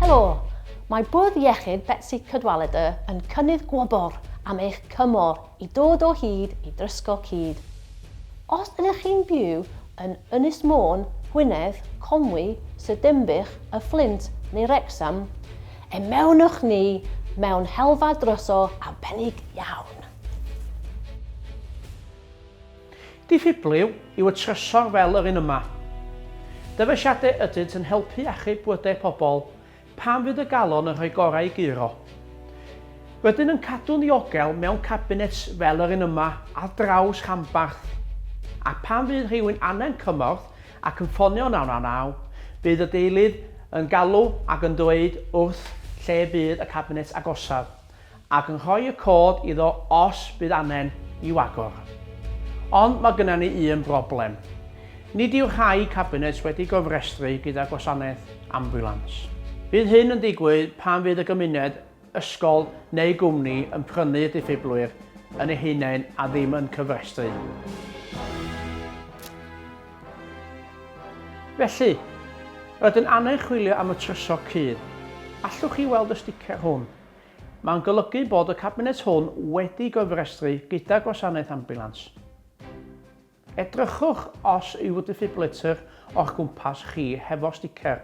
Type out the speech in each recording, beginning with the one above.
Helo! Mae Bwrdd Iechyd Betsi Cadwaladr yn cynnydd gwobr am eich cymor i dod o hyd i drysgo cyd. Os ydych chi'n byw yn Ynys Môn, Gwynedd, Conwy, Sir Dinbych, Y Fflint neu Wrecsam, ymewnwch ni mewn helfa dryso arbennig iawn. Diffyblyw yw y trysor fel yr un yma. Dyfeisiadau ydynt yn helpu achub bywydau pobl pan fydd y galon yn rhoi gorau i guro. Rydyn yn cadw'n ddiogel mewn cabinets fel yr un yma ar draws rhanbarth, ac pan fydd rhywun angen cymorth ac yn ffonio 999, bydd y deilydd yn galw ac yn dweud wrth lle bydd y cabinet agosaf. ac yn rhoi y cod iddo os bydd anen i'w agor. Ond mae gynna ni un broblem. Nid yw rhai cabinets wedi gofrestru gyda gwasanaeth ambiwlans. Bydd hyn yn digwydd pan fydd y gymuned, ysgol neu gwmni yn prynu y diffiblwyr yn eu hunain a ddim yn cyfrestru. Felly, rydyn angen chwilio am y trysor cudd. Allwch chi weld y sticer hwn? Mae'n golygu bod y Cabinet hwn wedi gofrestru gyda Gwasanaeth Ambiwlans. Edrychwch os yw defibrillator o'ch cwmpas chi hefo sticer,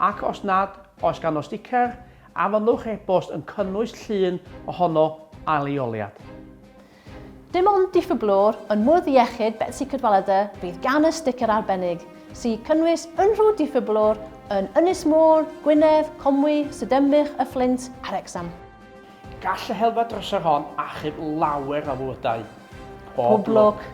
ac os nad oes ganddo sticer, anfonwch e-bost yn cynnwys llun ohono a leoliad. Dim ond diffyglwr yn Mwrdd Iechyd Betsi Cadwaladr fydd gan y sticer arbennig, sy'n cynnwys unrhyw diffyglwr yn Ynys Môn, Gwynedd, Conwy, Sir Ddinbych, Y Fflint a Wrecsam. Gall y helfa drysor hon achub lawer o fywydau. Pob lwc!